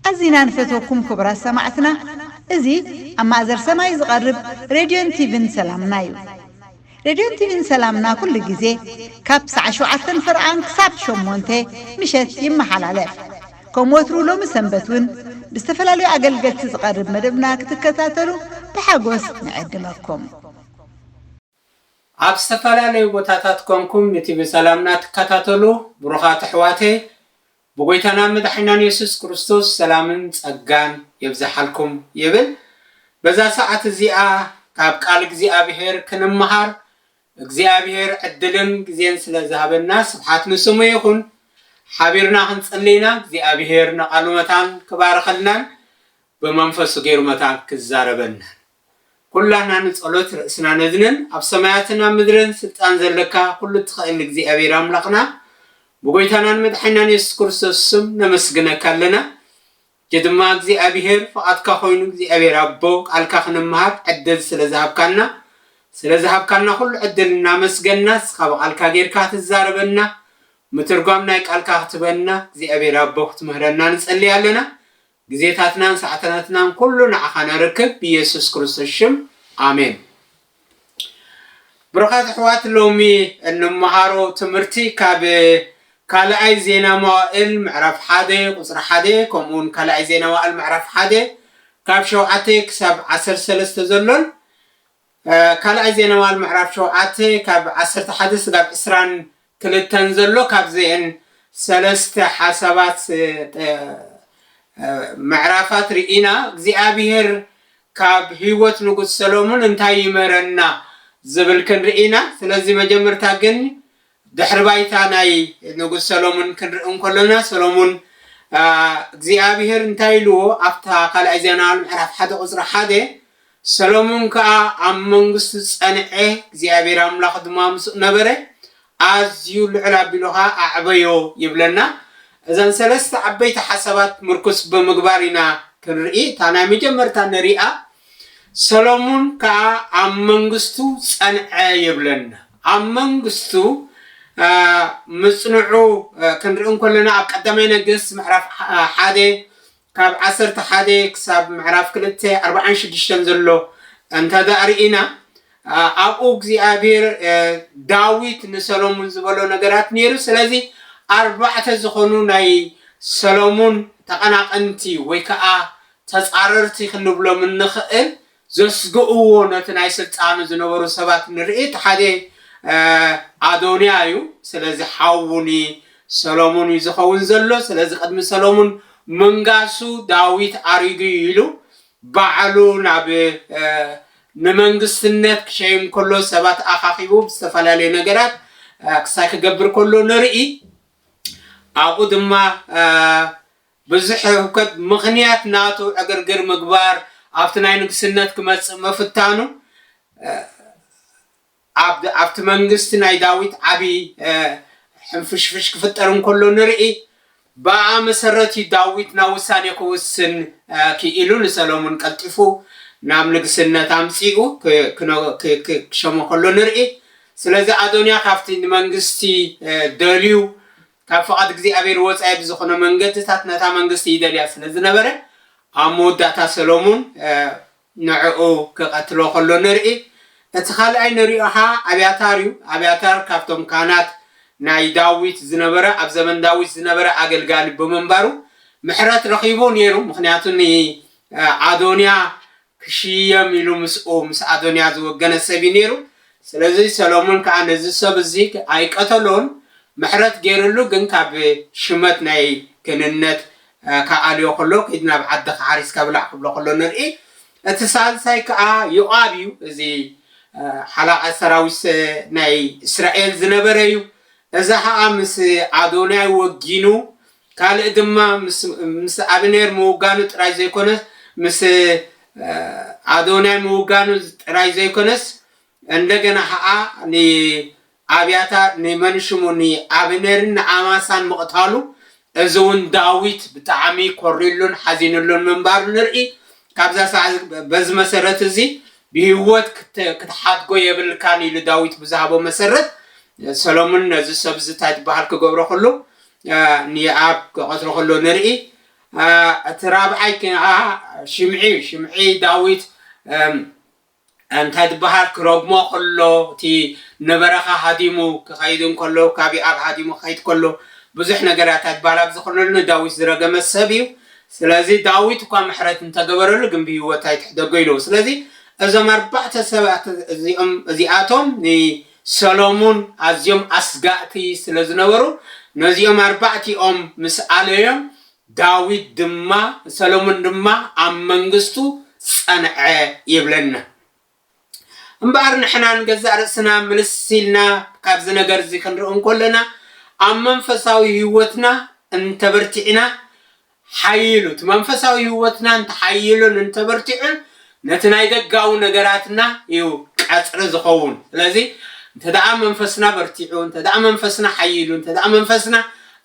ኣዚና ንፈትወኩም ኩቡራት ሰማዕትና እዚ ኣብ ማእዘር ሰማይ ዝቀርብ ሬድዮን ቲቪን ሰላምና ዩ ሬድዮን ቲቪን ሰላምና ኩሉ ግዜ ካብ ሳዕ ሽውዓተን ፍርቓን ክሳብ ሸሞንተ ምሸት ይመሓላለፍ ከም ወትሩ ሎሚ ሰንበት ውን ብዝተፈላለዩ ኣገልገልቲ ዝቐርብ መደብና ክትከታተሉ ብሓጎስ ንዕድመኩም። ኣብ ዝተፈላለዩ ቦታታት ኮንኩም ንቲቪ ሰላምና ትከታተሉ ብሩኻት ኣሕዋተይ ብጎይታናን መድሓኒናን የሱስ ክርስቶስ ሰላምን ጸጋን የብዝሓልኩም ይብል። በዛ ሰዓት እዚኣ ካብ ቃል እግዚኣብሄር ክንመሃር እግዚኣብሔር ዕድልን ግዜን ስለ ዝሃበና ስብሓት ንስሙ ይኹን ሓቢርና ክንጽሊ ኢና እግዚኣብሔር ንቃሉ መታን ክባርኸልናን ብመንፈሱ ጌሩ መታን ክዛረበናን ኩላትና ንጸሎት ርእስና ነድንን ኣብ ሰማያትን ኣብ ምድርን ስልጣን ዘለካ ኩሉ እትኸእል እግዚኣብሔር ኣምላኽና ብጎይታናን መድሓኒናን የሱስ ክርስቶስ ስም ነመስግነካ ኣለና ሕጂ ድማ እግዚኣብሄር ፍቓድካ ኮይኑ እግዚኣብሄር ኣቦ ቃልካ ክንምሃር ዕድል ስለ ዝሃብካና ስለ ዝሃብካና ኩሉ ዕድል እናመስገና ንስኻ ብቓልካ ጌርካ ክትዛረበና ምትርጓም ናይ ቃልካ ክትበና እግዚኣብሄር ኣቦ ክትምህረና ንጸልይ ኣለና ግዜታትናን ሰዓታትናን ኩሉ ንዓኻ ነርክብ ብየሱስ ክርስቶስ ሽም ኣሜን። ብሩኻት ኣሕዋት ሎሚ እንመሃሮ ትምህርቲ ካብ ካልኣይ ዜና መዋእል ምዕራፍ ሓደ ቁፅሪ ሓደ ከምኡ እውን ካልኣይ ዜና መዋእል ምዕራፍ ሓደ ካብ ሸውዓተ ክሳብ ዓሰርተ ሰለስተ ዘሎን ካልኣይ ዜና መዋእል ምዕራፍ ሸውዓተ ካብ ዓሰርተ ሓደ ስጋብ ዕስራን ትንተን ዘሎ ካብዚኤን ሰለስተ ሓሳባት ምዕራፋት ርኢና እግዚኣብሄር ካብ ህይወት ንጉስ ሰሎሙን እንታይ ይምህረና ዝብል ክንርኢ ኢና ስለዚ መጀመርታ ግን ድሕሪ ባይታ ናይ ንጉስ ሰሎሙን ክንርኢ እንከሎና ሰሎሙን እግዚኣብሄር እንታይ ኢልዎ ኣብታ ካልኣይ ዜና ምዕራፍ ሓደ ቁፅሪ ሓደ ሰሎሞን ከኣ ኣብ መንግስቱ ጸንዔ፣ እግዚኣብሄር ኣምላኽ ድማ ምስኡ ነበረ፣ ኣዝዩ ልዕል ኣቢሉ ኸኣ ኣዕበዮ ይብለና። እዘን ሰለስተ ዓበይቲ ሓሳባት ምርኩስ ብምግባር ኢና ክንርኢ። እታ ናይ መጀመርታ ንርኣ፣ ሰሎሞን ከኣ ኣብ መንግስቱ ጸንዔ ይብለና። ኣብ መንግስቱ ምጽንዑ ክንርኢ እንከለና ኣብ ቀዳማይ ነገስት ምዕራፍ ሓደ ካብ ዓሰርተ ሓደ ክሳብ ምዕራፍ ክልተ ኣርብዓን ሽዱሽተን ዘሎ እንተድኣ ርኢና ኣብኡ እግዚኣብሄር ዳዊት ንሰሎሙን ዝበሎ ነገራት ነይሩ። ስለዚ ኣርባዕተ ዝኾኑ ናይ ሰሎሙን ተቐናቐንቲ ወይ ከኣ ተጻረርቲ ክንብሎም እንኽእል ዘስግእዎ ነቲ ናይ ስልጣኑ ዝነበሩ ሰባት ንርኢ እቲ ሓደ ኣዶንያ እዩ ስለዚ ሓዉ ን ሰሎሙን እዩ ዝኸውን ዘሎ ስለዚ ቅድሚ ሰሎሙን ምንጋሱ ዳዊት ኣሪጉ እዩ ኢሉ ባዕሉ ናብ ንመንግስትነት ክሸይም ከሎ ሰባት ኣኻኺቡ ብዝተፈላለዩ ነገራት ክሳይ ክገብር ከሎ ንርኢ ኣብኡ ድማ ብዝሕ ህውከት ምኽንያት ናቱ ዕግርግር ምግባር ኣብቲ ናይ ንግስነት ክመጽእ ምፍታኑ ኣብ ኣብቲ መንግስቲ ናይ ዳዊት ዓቢ ሕንፍሽፍሽ ክፍጠር እንከሎ ንርኢ። ብኣኣ መሰረት እዩ ዳዊት ናብ ውሳኔ ክውስን ክኢሉ ንሰለሙን ቀልጢፉ ናብ ንግስነት ኣምጺኡ ክሸሞ ከሎ ንርኢ። ስለዚ ኣዶንያ ካብቲ ንመንግስቲ ደልዩ ካብ ፍቓድ እግዚኣብሄር ወጻኢ ብዝኹነ መንገድታት ነታ መንግስቲ ይደልያ ስለ ዝነበረ፣ ኣብ መወዳእታ ሰሎሙን ንዕኡ ክቐትሎ ከሎ ንርኢ። እቲ ካልኣይ ንሪኦ ኸኣ ኣብያታር እዩ። ኣብያታር ካብቶም ካህናት ናይ ዳዊት ዝነበረ ኣብ ዘመን ዳዊት ዝነበረ ኣገልጋሊ ብምንባሩ ምሕረት ረኺቡ ነይሩ፣ ምኽንያቱ ንኣዶንያ ክሽየም ኢሉ ምስኡ ምስ ኣዶንያ ዝወገነ ሰብ እዩ ነይሩ፣ ስለዚ ሰሎሞን ከኣ ነዚ ሰብ እዚ ኣይቀተሎን፣ ምሕረት ገይርሉ፣ ግን ካብ ሽመት ናይ ክህንነት ከኣልዮ ከሎ ኪድ ናብ ዓድኻ ሓሪስካ ብላዕ ክብሎ ከሎ ንርኢ፣ እቲ ሳልሳይ ከኣ ዮኣብ እዩ፣ እዚ ሓላቓ ሰራዊት ናይ እስራኤል ዝነበረ እዩ፣ እዚ ኸኣ ምስ ኣዶንያይ ወጊኑ ካልእ ድማ ምስ ኣብኔር ምውጋኑ ጥራይ ዘይኮነስ ምስ ኣዶናይ ምውጋኑ ጥራይ ዘይኮነስ እንደገና ከኣ ንኣብያታር ንመን ሽሙ ንኣብኔርን ንኣማሳን ምቕታሉ እዚ ውን ዳዊት ብጣዕሚ ኮርዩሉን ሓዚኑሉን ምንባሩ ንርኢ ካብዛ ሳዕ በዚ መሰረት እዚ ብህይወት ክትሓድጎ የብልካን ኢሉ ዳዊት ብዝሃቦ መሰረት ሰሎሙን ነዚ ሰብ እዚ ታይ ትበሃል ክገብሮ ከሎ ንየኣብ ኪቘጽሮ ኸሎ ንርኢ። እቲ ራብዓይ ከኣ ሽምዒ እዩ። ሽምዒ ዳዊት እንታይ ዝበሃል ኪረግሞ ኸሎ፣ እቲ ንበረኻ ሃዲሙ ኪኸይድ እንከሎ፣ ካብ የኣብ ሃዲሙ ኪኸይድ ከሎ፣ ብዙሕ ነገር እያ እታ ጓል ኣብዚ ኸሎ ንዳዊት ዝረገመት ሰብ እዩ። ስለዚ ዳዊት እኳ ምሕረት እንተ ገበረሉ ግን ብህይወት ኣይትሕደጎ ኢልዎ። ስለዚ እዞም ኣርባዕተ ሰባት እዚኦም እዚኣቶም ንየኣብ ሰሎሙን ኣዝዮም ኣስጋእቲ ስለ ዝነበሩ፣ ነዚኦም ኣርባዕቲኦም ምስ ኣለዮም፣ ዳዊት ድማ ሰሎሙን ድማ ኣብ መንግስቱ ጸንዐ ይብለና። እምበኣር ንሕና ንገዛእ ርእስና ምልስ ኢልና ካብዚ ነገርዚ ክንርኢ እንከሎና፣ ኣብ መንፈሳዊ ህይወትና እንተበርቲዕና ሓዪሉ፣ እቲ መንፈሳዊ ህይወትና እንተሓዪሉን እንተበርቲዑን ነቲ ናይ ደጋዊ ነገራትና እዩ ቀጽሪ ዝኸውን። ስለዚ እንተደኣ መንፈስና በርቲዑ፣ እንተደኣ መንፈስና ሓዪሉ፣ እንተደኣ መንፈስና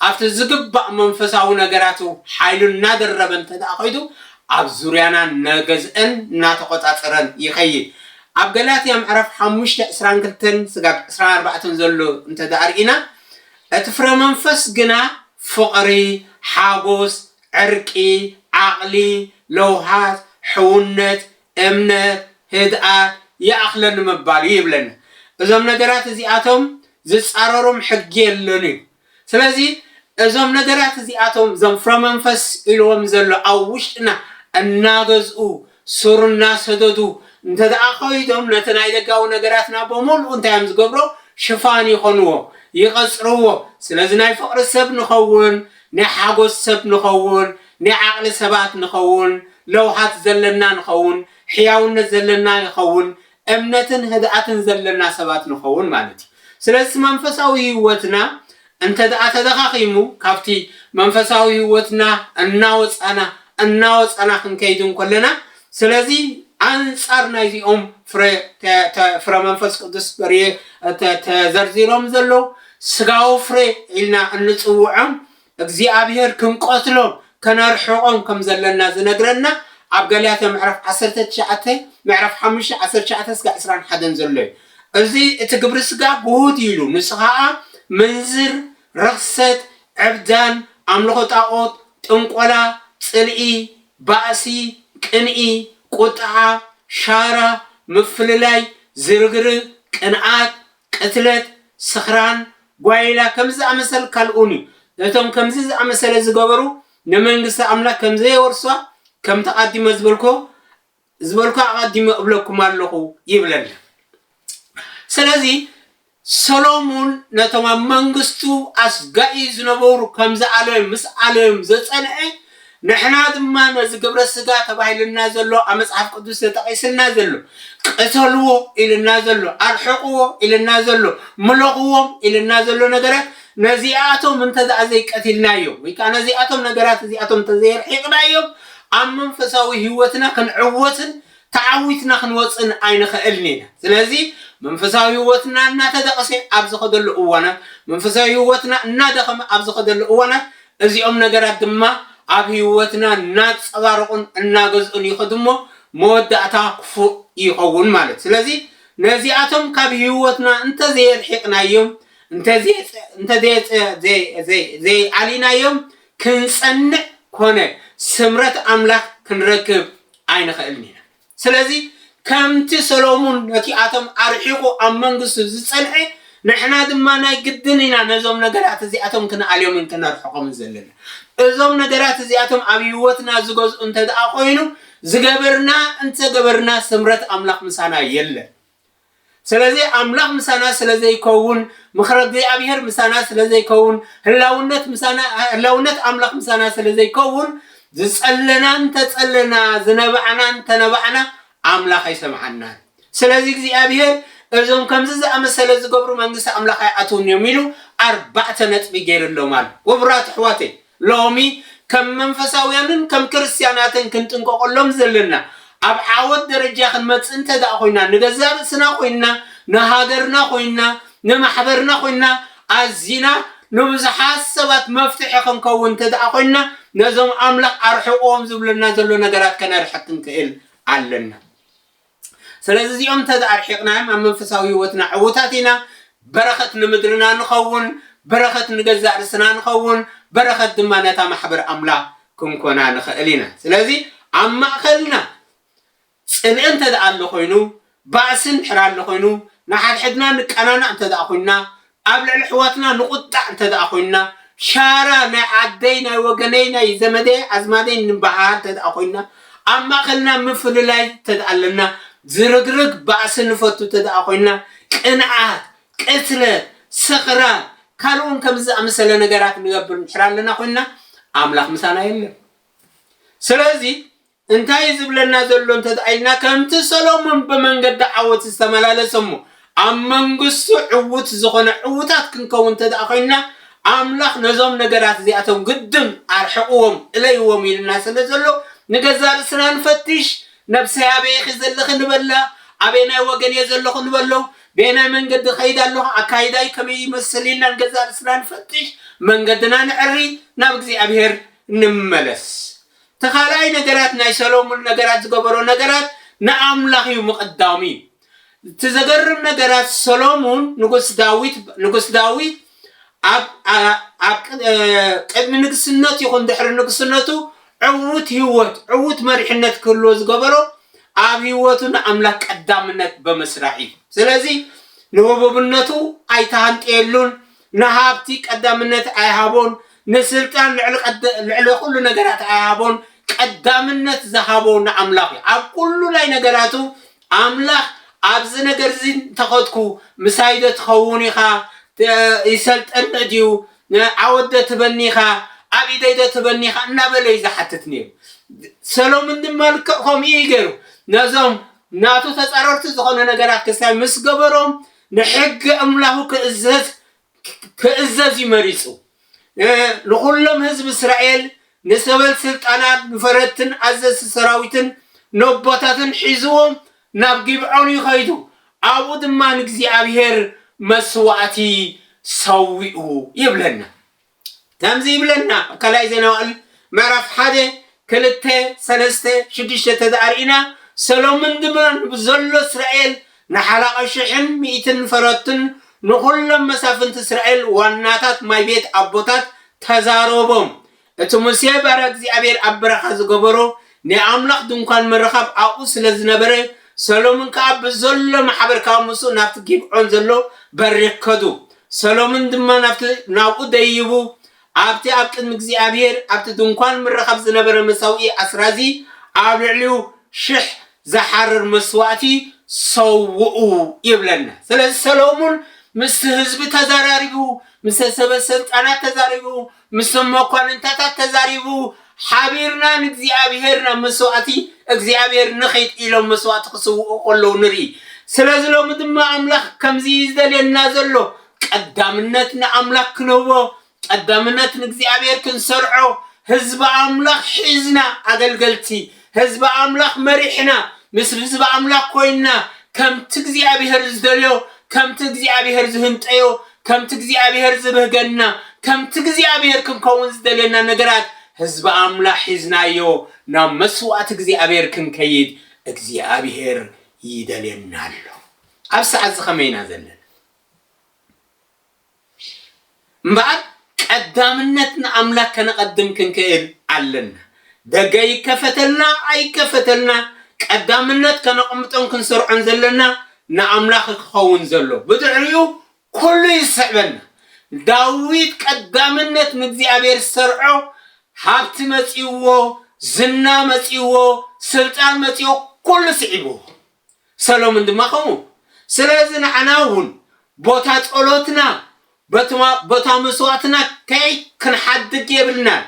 ኣብቲ ዝግባእ መንፈሳዊ ነገራቱ ሓይሉ እናደረበ እንተደኣ ከይዱ፣ ኣብ ዙርያና እናገዝእን እናተቖጻጸረን ይኸይድ። ኣብ ገላትያ ምዕራፍ ሓሙሽተ ዕስራን ክልተን ስጋብ ዕስራን ኣርባዕተን ዘሎ እንተደኣ ርኢና፣ እቲ ፍረ መንፈስ ግና ፍቕሪ፣ ሓጎስ፣ ዕርቂ፣ ዓቕሊ፣ ለውሃት፣ ሕውነት፣ እምነት፣ ህድኣት፣ ይኣኽለኒ ምባል እዩ ይብለና። እዞም ነገራት እዚኣቶም ዝጻረሮም ሕጊ የሎን እዩ። ስለዚ እዞም ነገራት እዚኣቶም እዞም ፍረ መንፈስ ኢልዎም ዘሎ ኣብ ውሽጥና እናገዝኡ ሱር እናሰደዱ እንተድኣ ከይዶም ነቲ ናይ ደጋዊ ነገራትና በሙሉኡ እንታይ እዮም ዝገብሮ ሽፋን ይኾንዎ ይቐጽርዎ ስለዚ ናይ ፍቕሪ ሰብ ንኸውን ናይ ሓጎስ ሰብ ንኸውን ናይ ዓቕሊ ሰባት ንኸውን ለውሃት ዘለና ንኸውን ሕያውነት ዘለና ይኸውን እምነትን ህድኣትን ዘለና ሰባት ንኸውን ማለት እዩ። ስለዚ እቲ መንፈሳዊ ህይወትና እንተድኣ ተደኻኺሙ ካብቲ መንፈሳዊ ህይወትና እናወጻና እናወጻና ክንከይድ እንኮለና ስለዚ ኣንጻር ናይዚኦም ፍረ ፍረ መንፈስ ቅዱስ በርየ ተዘርዚሮም ዘለዉ ስጋዊ ፍረ ኢልና እንጽውዖም እግዚኣብሄር ክንቀትሎም ከነርሕቆም ከም ዘለና ዝነግረና ኣብ ገላትያ ምዕራፍ ዓሰርተ ትሽዓተ ምዕራፍ ሓሙሽተ ዓሰርተ ትሽዓተ እስከ ዕስራን ሓደን ዘሎ እዩ እዚ እቲ ግብሪ ስጋ ግሁድ እዩ ኢሉ ንሱ ከኣ ምንዝር ርኽሰት ዕብዳን ኣምልኾ ጣኦት ጥንቆላ ጽልኢ ባእሲ ቅንኢ ቁጥዓ ሻራ ምፍልላይ ዝርግርግ ቅንኣት ቅትለት፣ ስኽራን፣ ጓይላ ከምዚ ዝኣመሰል ካልኡን እዩ። እቶም ከምዚ ዝኣመሰለ ዝገበሩ ንመንግስቲ ኣምላኽ ከም ዘየወርሱዋ ከምቲ ኣቐዲመ ዝበልኩ ዝበልኩ ኣቐዲመ እብለኩም ኣለኹ ይብለና። ስለዚ ሰሎሙን ነቶም ኣብ መንግስቱ ኣስጋኢ ዝነበሩ ከም ዝኣለዮም ምስ ኣለዮም ዘጸንዐ ንሕና ድማ ነዚ ግብረ ስጋ ተባሂሉና ዘሎ ኣብ መጽሓፍ ቅዱስ ተጠቒስልና ዘሎ ቅተልዎ ኢሉና ዘሎ ኣርሕቕዎ ኢሉና ዘሎ ምሎኽዎም ኢሉና ዘሎ ነገራት ነዚኣቶም እንተድኣ ዘይቀቲልናዮም ወይ ከኣ ነዚኣቶም ነገራት እዚኣቶም እንተዘየርሒቕናዮም ኣብ መንፈሳዊ ህይወትና ክንዕወትን ተዓዊትና ክንወጽእን ኣይንኽእልን ኢና ስለዚ መንፈሳዊ ህይወትና እናተደቕሰ ኣብ ዝኸደሉ እዋናት መንፈሳዊ ህይወትና እናደኸመ ኣብ ዝኸደሉ እዋናት እዚኦም ነገራት ድማ ኣብ ህይወትና እናንጸባረቑን እናገዝኡን ይኸዱ እሞ መወዳእታ ክፉእ ይኸውን ማለት ስለዚ ነዚኣቶም ካብ ህይወትና እንተዘየርሒቕናዮም እንተዘየኣሊናዮም ክንጸንዕ ኮነ ስምረት ኣምላኽ ክንረክብ ኣይንኽእልን ኢና። ስለዚ ከምቲ ሰሎሙን ነቲ ኣቶም ኣርሒቁ ኣብ መንግስቱ ዝጸንሐ ንሕና ድማ ናይ ግድን ኢና ነዞም ነገራት እዚኣቶም ክንኣልዮምን ክነርሕቆምን ዘለና። እዞም ነገራት እዚኣቶም ኣብ ሂወትና ዝገዝኡ እንተድኣ ኮይኑ ዝገበርና እንተገበርና ስምረት ኣምላኽ ምሳና የለን። ስለዚ ኣምላኽ ምሳና ስለ ዘይከውን ምክረ እግዚኣብሄር ምሳና ስለ ዘይከውን ህላውነት ምሳና ህላውነት ኣምላኽ ምሳና ስለ ዘይከውን ዝጸለና እንተጸለና ዝነባዕና እንተነባዕና ኣምላኽ ኣይሰምዓናን ስለዚ እግዚኣብሄር እዞም ከምዚ ዝኣመሰለ ዝገብሩ መንግስቲ ኣምላኽ ኣይኣትውን እዮም ኢሉ ኣርባዕተ ነጥቢ ገይርሎም ኣሎ። ክቡራት ኣሕዋተይ ሎሚ ከም መንፈሳውያንን ከም ክርስትያናትን ክንጥንቀቐሎም ዘለና፣ ኣብ ዓወት ደረጃ ክንመጽእ እንተድኣ ኾይና፣ ንገዛእ ርእስና ኾይንና፣ ንሃገርና ኾይንና፣ ንማሕበርና ኾይንና፣ ኣዚና ንብዙሓት ሰባት መፍትሒ ክንከውን እንተድኣ ኾይንና፣ ነዞም ኣምላኽ ኣርሕቕዎም ዝብለና ዘሎ ነገራት ከነርሕቕ ክንክእል ኣለና። ስለዚ እዚኦም እንተ ኣርሒቕናዮም ኣብ መንፈሳዊ ህይወትና ዕዉታት ኢና፣ በረኸት ንምድርና ንኸውን፣ በረኸት ንገዛእ ርስና ንኸውን፣ በረኸት ድማ ነታ ማሕበር ኣምላኽ ክንኮና ንኽእል ኢና። ስለዚ ኣብ ማእከልና ጽልኢ እንተ ኣሎ ዀይኑ፣ ባእሲ እንድሕር ኣሎ ዀይኑ፣ ንሓድሕድና ንቀናናእ እንተ ኰይንና፣ ኣብ ልዕሊ ኣሕዋትና ንቑጣዕ እንተድኣ ኮይንና፣ ሻራ ናይ ዓደይ ናይ ወገነይ ናይ ዘመደይ ኣዝማደይ ንበሃሃል እንተድኣ ኮይንና፣ ኣብ ማእኸልና ምፍልላይ እንተድኣ ኣለና፣ ዝርግርግ ባእሲ ንፈቱ እንተድኣ ኮይንና፣ ቅንኣት፣ ቅትለት፣ ስኽራን ካልእውን ከምዚ ዝኣመሰለ ነገራት ንገብር እንድሕር ኣለና ኮይንና፣ ኣምላኽ ምሳና የለን። ስለዚ እንታይ እዩ ዝብለና ዘሎ እንተ ኢልና፣ ከምቲ ሰሎሞን ብመንገዲ ዓወት ዝተመላለሰ እሞ ኣብ መንግስቱ ዕዉት ዝዀነ፣ ዕዉታት ክንከውን እንተ ዄንና፣ ኣምላኽ ነዞም ነገራት እዚኣቶም ግድን ኣርሕቕዎም፣ እለይዎም ኢሉና ስለ ዘሎ፣ ንገዛእ ርእስና ንፈትሽ፣ ነብሰይ ኣበይ ኢኺ ዘለኺ ንበላ፣ ኣበየናይ ወገን እየ ዘለኹ ንበሎ፣ በየናይ መንገዲ እኸይድ ኣሎኹ፣ ኣካይዳይ ከመይ ይመስል ኢልና ንገዛእ ርእስና ንፈትሽ፣ መንገድና ነዐሪ፣ ናብ እግዚኣብሄር ንመለስ። እቲ ካልኣይ ነገራት ናይ ሰሎሙን ነገራት ዝገበሮ ነገራት ንኣምላኽ እዩ ምቕዳሙ እዩ እቲ ዘገርም ነገራት ሰሎሙን ንጉስ ዳዊት ንጉስ ዳዊት ኣብ ኣብ ቅድሚ ንግስነቱ ይኹን ድሕሪ ንግስነቱ ዕውት ህይወት ዕውት መሪሕነት ክህልዎ ዝገበሮ ኣብ ህይወቱ ንኣምላኽ ቀዳምነት በምስራዕ እዩ ስለዚ ንህቡብነቱ ኣይተሃንጠየሉን ንሃብቲ ቀዳምነት ኣይሃቦን፣ ንስልጣን ልዕሊ ቀድ ልዕሊ ኩሉ ነገራት ኣይሃቦን፣ ቀዳምነት ዝሃቦ ንኣምላኽ እዩ። ኣብ ኩሉ ናይ ነገራቱ ኣምላኽ ኣብዚ ነገር እዚ እንተኸድኩ ምሳይዶ ትኸውን ኢኻ፣ ት ይሰልጠኒ ድዩ፣ ን ዓወትዶ ትህበኒ ኢኻ፣ ኣብ ኢደይዶ ትህበኒ ኢኻ እናበለ እዩ ዝሓትት ነይሩ። ሰሎምን ድማ ልክዕ ከምኡ እዩ ገይሩ። ነዞም ናቱ ተጻረርቲ ዝኾኑ ነገራት ክሳይ ምስ ገበሮም ንሕጊ ኣምላኹ ክእዘዝ ክእዘዝ እዩ መሪጹ። ን ንዅሎም ህዝቢ እስራኤል፣ ንሰበል ስልጣናት፣ ንፈረድትን ኣዘዝቲ ሰራዊትን ነቦታትን ሒዝዎም ናብ ጊብዖን እዩ ኸይዱ። ኣብኡ ድማ ንእግዚኣብሄር መስዋእቲ ሰዊኡ ይብለና። ከምዚ ይብለና ካልኣይ ዜና መዋእል ምዕራፍ ሓደ ክልተ ሰለስተ ሽዱሽተ ተዝኣ ርኢና ሰሎምን ግብሮን ብዘሎ እስራኤል ንሓላቒ ሽሕን ሚእትን ፈረቱን ንዅሎም መሳፍንቲ እስራኤል ዋናታት ማይ ቤት ኣቦታት ተዛረቦም እቲ ሙሴ ባርያ እግዚኣብሔር ኣብ በረኻ ዝገበሮ ናይ ኣምላኽ ድንኳን ምርኻብ ኣብኡ ስለ ዝነበረ፣ ሰሎምን ከኣ ብዘሎ ማሕበር ካብ ምስኡ ናብቲ ጊብዖን ዘሎ በሪኽ ከዱ። ሰሎምን ድማ ናብቲ ናብኡ ደይቡ፣ ኣብቲ ኣብ ቅድሚ እግዚኣብሄር ኣብቲ ድንኳን ምርኻብ ዝነበረ መሰውኢ ኣስራዚ ኣብ ልዕሊኡ ሽሕ ዝሓርር መስዋእቲ ሰውኡ ይብለና። ስለዚ ሰሎሙን ምስቲ ህዝቢ ተዘራሪቡ፣ ምሰ ሰበ ሰልጣናት ተዛሪቡ፣ ምስቶም መኳንንታታት ተዛሪቡ፣ ሓቢርና ንእግዚኣብሄር ናብ መስዋእቲ እግዚኣብሄር ንኺድ ኢሎም መስዋእቲ ክስውኡ ከለዉ ንርኢ። ስለዚ ሎሚ ድማ ኣምላኽ ከምዚ እዩ ዝደልየና ዘሎ፣ ቀዳምነት ንኣምላኽ ክንህቦ፣ ቀዳምነት ንእግዚኣብሄር ክንሰርዖ፣ ህዝቢ ኣምላኽ ሒዝና ኣገልገልቲ፣ ህዝቢ ኣምላኽ መሪሕና፣ ምስ ህዝቢ ኣምላኽ ኮይንና፣ ከምቲ እግዚኣብሄር ዝደልዮ፣ ከምቲ እግዚኣብሄር ዝህንጠዮ፣ ከምቲ እግዚኣብሄር ዝብህገና፣ ከምቲ እግዚኣብሄር ክንከውን ዝደልየና ነገራት ህዝቢ ኣምላኽ ሒዝናዮ ናብ መስዋእቲ እግዚኣብሄር ክንከይድ እግዚኣብሄር ይደልየና ኣሎ። ኣብ ሰዓትዚ ከመይ ኢና ዘለና? እምበኣር ቀዳምነት ንኣምላክ ከነቐድም ክንክእል ኣለና። ደገ ይከፈተልና ኣይከፈተልና ቀዳምነት ከነቐምጦን ክንሰርዖን ዘለና ንኣምላክ ክኸውን ዘሎ ብድሕሪኡ ኩሉ ይስዕበና። ዳዊት ቀዳምነት ንእግዚኣብሔር ዝሰርዖ ሃብቲ መጺእዎ፣ ዝና መጺእዎ፣ ስልጣን መጺእዎ ኩሉ ስዒብዎ። ሰሎምን ድማ ከምኡ ስለዚ ንዓና እውን ቦታ ጸሎትና በቲ ቦታ መስዋእትና ከይ ክንሓድግ የብልናን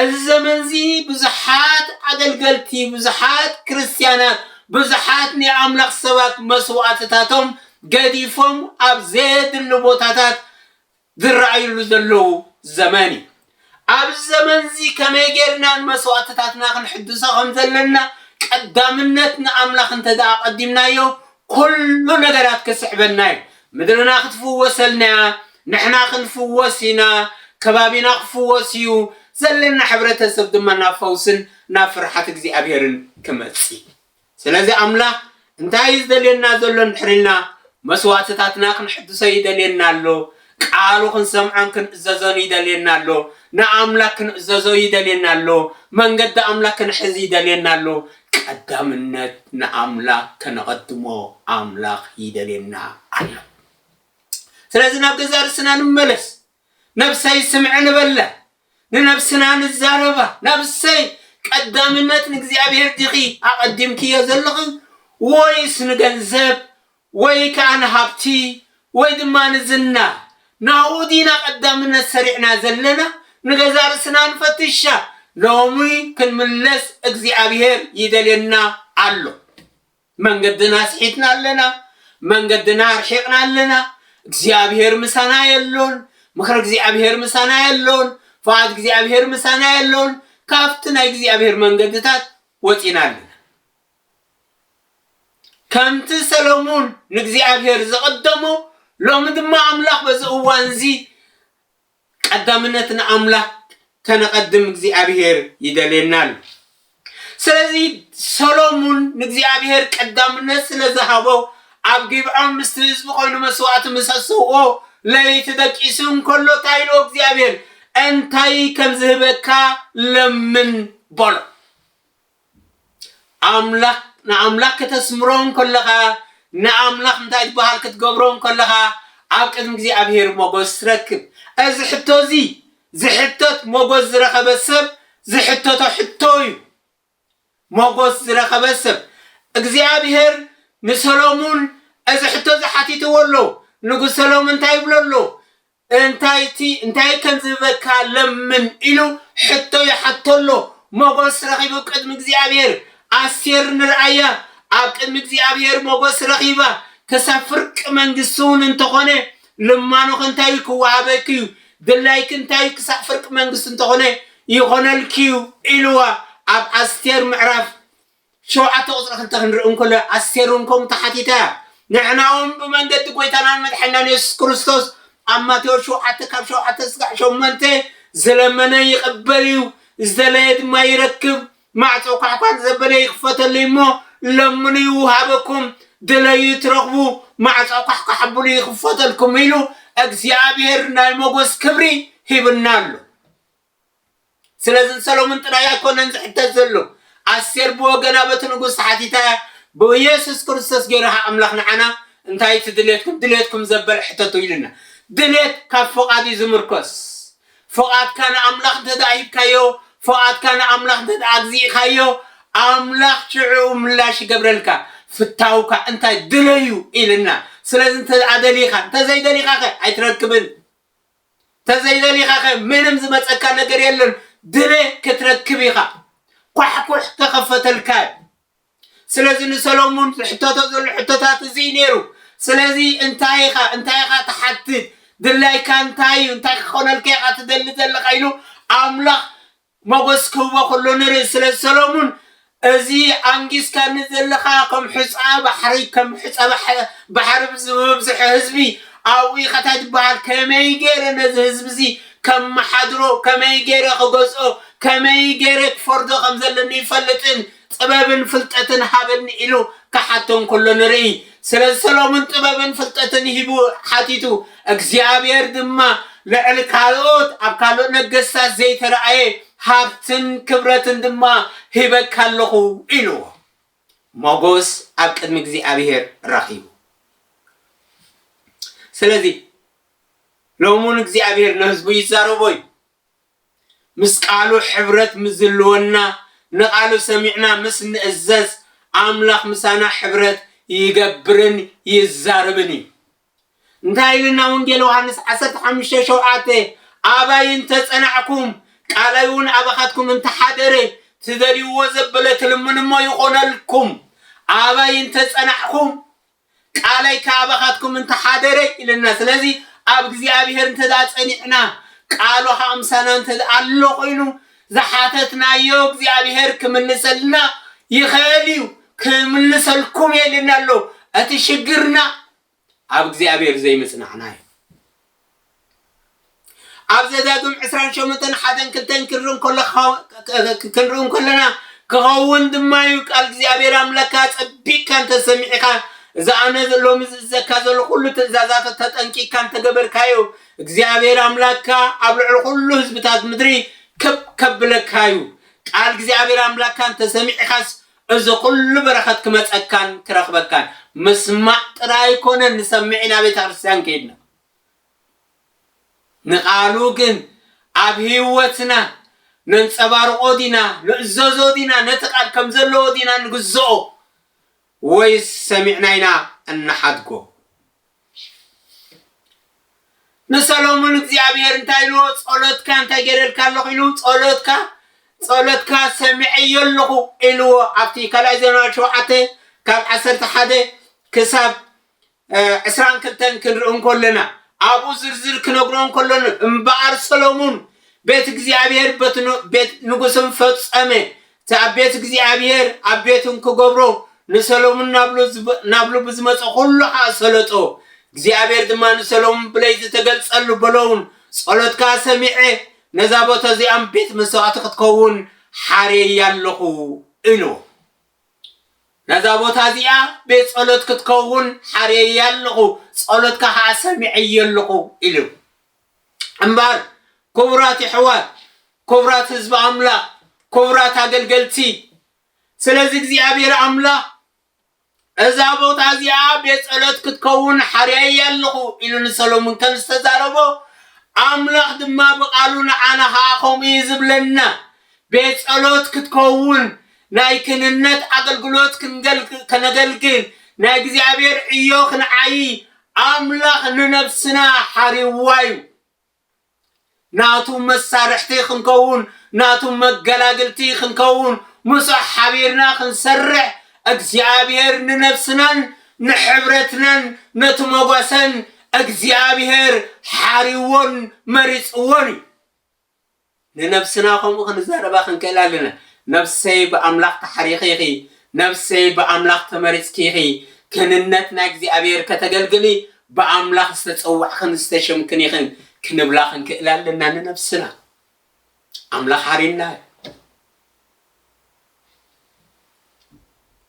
እዚ ዘመን እዚ ብዙሓት ኣገልገልቲ ብዙሓት ክርስትያናት ብዙሓት ናይ ኣምላኽ ሰባት መስዋእትታቶም ገዲፎም ኣብ ዘየድሊ ቦታታት ዝረኣዩሉ ዘለዉ ዘመን እዩ። ኣብዚ ዘመንዚ ከመይ ጌርና ንመስዋእትታትና ክንሕድሶ ከም ዘለና ቀዳምነት ንኣምላኽ እንተድኣ ኣቐዲምናዮ ኩሉ ነገራት ክስዕበና እዩ። ምድርና ክትፍወሰልና እያ፣ ንሕና ክንፍወስ ኢና፣ ከባቢና ክፍወስ እዩ፣ ዘለና ሕብረተሰብ ድማ ናብ ፈውስን ናብ ፍርሓት እግዚኣብሄርን ክመጽእ እዩ። ስለዚ ኣምላኽ እንታይ እዩ ዝደልየና ዘሎ እንድሕሪ ኢልና መስዋእትታትና ክንሕድሶ ይደልየና ኣሎ። ቃሉ ክንሰምዖን ክንእዘዞን ይደልየና ኣሎ። ንኣምላክ ክንእዘዞ ይደልየና ኣሎ። መንገዲ ኣምላክ ክንሕዝ ይደልየና ኣሎ። ቀዳምነት ንኣምላክ ከነቐድሞ ኣምላኽ ይደልየና ኣሎ። ስለዚ ናብ ገዛእ ርእስና ንመለስ። ነብሰይ ስምዒ ንበላ ንነብስና ንዛረባ ነብሰይ ቀዳምነት ንእግዚኣብሔር ዲኺ ኣቐዲምክዮ ዘለኺ ወይስ ንገንዘብ ወይ ከኣ ንሃብቲ ወይ ድማ ንዝና ናብኡ ዲና ቀዳምነት ሰሪዕና ዘለና ንገዛእ ርእስና ንፈትሻ ሎሚ ክንምለስ እግዚኣብሔር ይደልየና ኣሎ። መንገድና ኣስሒትና ኣለና፣ መንገድና ኣርሒቕና ኣለና፣ እግዚኣብሄር ምሳና የሎን፣ ምኽሪ እግዚኣብሄር ምሳና የሎን፣ ፍቓድ እግዚኣብሄር ምሳና የሎን፣ ካብቲ ናይ እግዚኣብሄር መንገድታት ወጺና ኣለና። ከምቲ ሰሎሙን ንእግዚኣብሄር ዝቐደሞ ሎሚ ድማ ኣምላኽ በዚ እዋንዚ ቀዳምነት ንኣምላክ ከነቀድም እግዚኣብሄር ይደልየና ኣሎ ስለዚ ሰሎሙን ንእግዚኣብሄር ቀዳምነት ስለ ዝሃቦ ኣብ ጊብዖን ምስቲ ህዝቢ ኮይኑ መስዋእቲ ምስ ኣሰውኦ ለይቲ ደቂሱ እንከሎ እንታይ ኢልዎ እግዚኣብሄር እንታይ ከም ዝህበካ ለምን በሎ ኣምላኽ ንኣምላኽ ከተስምሮ እንከለኻ ንኣምላኽ እንታይ ዝበሃል ክትገብሮ እንከለኻ ኣብ ቅድሚ እግዚኣብሄር ሞጎስ ትረክብ እዚ ሕቶ እዚ ዝሕተት ሞጎስ ዝረኸበ ሰብ ዝሕተቶ ሕቶ እዩ ሞጎስ ዝረኸበ ሰብ እግዚኣብሄር ንሰሎሙን እዚ ሕቶ እዚ ሓቲትዎ ኣሎ ንጉስ ሰሎሙን እንታይ ይብሎ ኣሎ እንታይ'ቲ እንታይ ከም ዚህበካ ለምን ኢሉ ሕቶ ይሓቶ ኣሎ። ሞገስ ረኺቡ ቅድሚ እግዚኣብሔር። ኣስቴር ንርኣያ፣ ኣብ ቅድሚ እግዚኣብሔር ሞገስ ረኺባ፣ ክሳብ ፍርቂ መንግሥቲ'ውን እንተኾነ ልማኖኺ እንታይ'ዩ ኪወሃበኪ'ዩ፣ ድላይኪ እንታይ'ዩ ክሳዕ ፍርቂ መንግሥቲ እንተኾነ ይኾነልኪ'ዩ ኢልዋ፣ ኣብ ኣስቴር ምዕራፍ። ሸውዓተ ቁጽሪ ክልተ ክንርኢ እንከሎ ኣስቴር እውን ከምኡ ተሓቲታ እያ። ንሕና እውን ብመንገዲ ጐይታናን መድሓኒናን የሱስ ክርስቶስ ኣብ ማቴዎስ ሸውዓተ ካብ ሸውዓተ ስጋዕ ሸሞንተ ዝለመነ ይቕበል እዩ፣ ዝደለየ ድማ ይረክብ፣ ማዕጾ ኳሕኳሕ ንዘበለ ይኽፈተሉ እዩ እሞ፣ ለምኑ ይውሃበኩም፣ ድለዩ ትረኽቡ፣ ማዕጾ ኳሕኳሕ ኣብሉ ይኽፈተልኩም ኢሉ እግዚኣብሔር ናይ መጐስ ክብሪ ሂብና ኣሎ። ስለዚ ንሰሎሙን ጥራይ ኣይኮነን ዝሕተት ዘሎ። ኣስቴር ብወገና በቲ ንጉስ ተሓቲታያ ብየሱስ ክርስቶስ ገይሩ ከኣ ኣምላኽ ንዓና እንታይ እዩ እቲ ድሌትኩም ድሌትኩም ዘበለ ሕተቱ ኢሉና። ድሌት ካብ ፍቓድ እዩ ዝምርኮስ። ፍቓድካ ንኣምላኽ እንተድኣ ሂብካዮ ፍቓድካ ንኣምላኽ እንተድኣ ኣግዚእካዮ ኣምላኽ ሽዕኡ ምላሽ ይገብረልካ። ፍታውካ እንታይ ድለዩ ኢሉና። ስለዚ እንተድኣ ደሊኻ እንተዘይደሊኻኸ ኣይትረክብን። ተዘይደሊኻ ከ ምንም ዝመጸካ ነገር የለን ድነ ክትረክብ ኢኻ ኳሕኩሕ ከኸፈተልካ እዩ ስለዚ ንሰሎሙን ዝሕተቶ ዘሎ ሕቶታት እዚ ነይሩ ስለዚ እንታይ ኢኻ እንታይ ኢኻ ትሓትት ድላይካ እንታይ እዩ እንታይ ክኾነልካ ኢኻ ትደሊ ዘለኻ ኢሉ ኣምላኽ ሞጎስ ክህቦ ከሎ ንርኢ ስለ ሰሎሙን እዚ ኣንጊስካኒ ዘለኻ ከም ሑጻ ባሕሪ ከም ሑጻ ባሕሪ ብዝበዝሖ ህዝቢ ኣብኡ ኢኻ ታይ ትበሃል ከመይ ጌረ ነዚ ህዝቢ እዚ ከመሓድሮ ከመይ ጌረ ክገዝኦ ከመይ ጌረ ክፈርዶ ከም ዘለኒ ይፈልጥን ጥበብን ፍልጠትን ሃበኒ ኢሉ ክሓቶ እንከሎ ንርኢ። ስለዚ ሰሎሞን ጥበብን ፍልጠትን ሂቡ ሓቲቱ፣ እግዚኣብሄር ድማ ልዕሊ ካልኦት ኣብ ካልእ ነገስታት ዘይተራእየ ሃብትን ክብረትን ድማ ሂበካ ኣለኹ ኢልዎ። ሞጎስ ኣብ ቅድሚ እግዚኣብሄር ረኺቡ። ስለዚ ሎሚ እውን እግዚኣብሄር ንህዝቡ ይዛረቦ እዩ። ምስ ቃሉ ሕብረት ምስዝልወና ንቃሉ ሰሚዕና ምስ ንእዘዝ ኣምላኽ ምሳና ሕብረት ይገብርን ይዛርብን እዩ እንታይ ኢልና ወንጌል ዮሃንስ ዓሰርተ ሓሙሽተ ሸውዓተ ኣባይ እንተጸናዕኩም ቃላይውን ኣባኻትኩም እንተሓደረ ትደልይዎ ዘበለ ትልምንሞ ይኾነልኩም ኣባይ እንተጸናዕኩም ቃለይ ካባኻትኩም እንተ ሓደረ ኢለና ስለዚ ኣብ እግዚኣብሔር እንተ ጸኒዕና ቃሉ ከኣ ምሳና እንተ ኣሎ ኮይኑ ዝሓተትናዮ እግዚኣብሔር ክምልሰልና ይኸእል እዩ ክምልሰልኩም እየ ኢልና ኣሎ እቲ ሽግርና ኣብ እግዚኣብሔር ዘይምጽናዕና እዩ ኣብ ዘዳግም ዕስራን ሸሞንተን ሓደን ክልተን ክንርኢ እንከሎ ክኸው- ክንርኢ እንከለና ክኸውን ድማ እዩ ቃል እግዚኣብሔር ኣምላካ ኣጸቢቅካ እንተሰሚዕኻ እዚ ኣነ ሎሚ ዝእዘካ ዘሎ ኩሉ ትእዛዛት ተጠንቂቅካ እንተገበርካዮ እግዚኣብሔር ኣምላካ ኣብ ልዕሊ ኩሉ ህዝብታት ምድሪ ከብ ከብለካ እዩ ቃል እግዚኣብሔር ኣምላካ እንተሰሚዕኻስ እዚ ኩሉ በረከት ክመጸካን ክረክበካን ምስማዕ ጥራይ ኣይኮነን ንሰምዕ ኢና ቤተክርስትያን ከይድና ንቃሉ ግን ኣብ ሂወትና ነንጸባርቆ ዲና ንእዘዞ ዲና ነቲ ቃል ከም ዘለዎ ዲና ንግዝኦ ወይስ ሰሚዕና ኢና እንሓድጎ። ንሰሎሙን እግዚኣብሔር እንታይ ኢልዎ ጸሎትካ እንታይ ገይረልካ ኣለኹ ኢሉ ጸሎትካ ጸሎትካ ሰሚዐዮ ኣለኹ ኢልዎ ኣብቲ ካልኣይ ዜና ሸውዓተ ካብ ዓሰርተ ሓደ ክሳብ እ፣ ዕስራን ክልተን ክንርኢ እንከለና ኣብኡ ዝርዝር ክነግሮ እንከሎ እምበኣር ሰሎሙን ቤት እግዚኣብሔር ቤት ን- ቤት ንጉስን ፈጸመ እቲ ኣብ ቤት እግዚኣብሄር ኣብ ቤቱ እንክገብሮ ንሰሎሙን ናብሉ ብዝመጸ ኹሉ ኸኣ ሰለጦ። እግዚኣብሄር ድማ ንሰሎሙን ብለይቲ ተገልጸሉ በሎውን ጸሎትካ ሰሚዐ ነዛ ቦታ እዚኣም ቤት መሥዋዕቲ ክትከውን ሓርየያ ኣሎኹ እልዎ። ነዛ ቦታ እዚኣ ቤት ጸሎት ክትከውን ሓርየያ ኣሎኹ ጸሎትካ ኸኣ ሰሚዐዮ ኣሎኹ ኢሉ። እምበር ኩቡራት የሕዋት ኩቡራት ህዝቢ ኣምላክ ኩቡራት ኣገልገልቲ ስለዚ እግዚኣብሔር ኣምላክ እዛ ቦታ እዚኣ ቤት ጸሎት ክትከውን ሓርያያ ኣለኹ ኢሉ ንሰሎሙን ከም ዝተዛረቦ ኣምላኽ ድማ ብቓሉ ንዓና ኸዓ ከምኡ እዩ ዝብለና ቤት ጸሎት ክትከውን ናይ ክንነት ኣገልግሎት ከነገልግል ናይ እግዚኣብሔር ዕዮ ክንዓይ ኣምላኽ ንነብስና ሓሪዩዋ እዩ። ናቱ መሳርሕቲ ክንከውን፣ ናቱ መገላግልቲ ክንከውን፣ ምስኡ ሓቢርና ክንሰርሕ እግዚኣብሄር ንነብስናን ንሕብረትናን ነቲ መጓሰን እግዚኣብሄር ሓሪዩዎን መሪጽዎን እዩ። ንነብስና ከምኡ ክንዛረባ ክንክእል ኣለና፣ ነፍሰይ ብኣምላኽ ተሓሪኺ ኢኺ፣ ነፍሰይ ብኣምላኽ ተመሪጽኪ ኢኺ፣ ክህንነት ናይ እግዚኣብሔር ከተገልግሊ ብኣምላኽ ዝተጸዋዕክን ዝተሸምክን ኢኽን ክንብላ ክንክእል ኣለና ንነብስና። ኣምላኽ ሓሪና እዩ።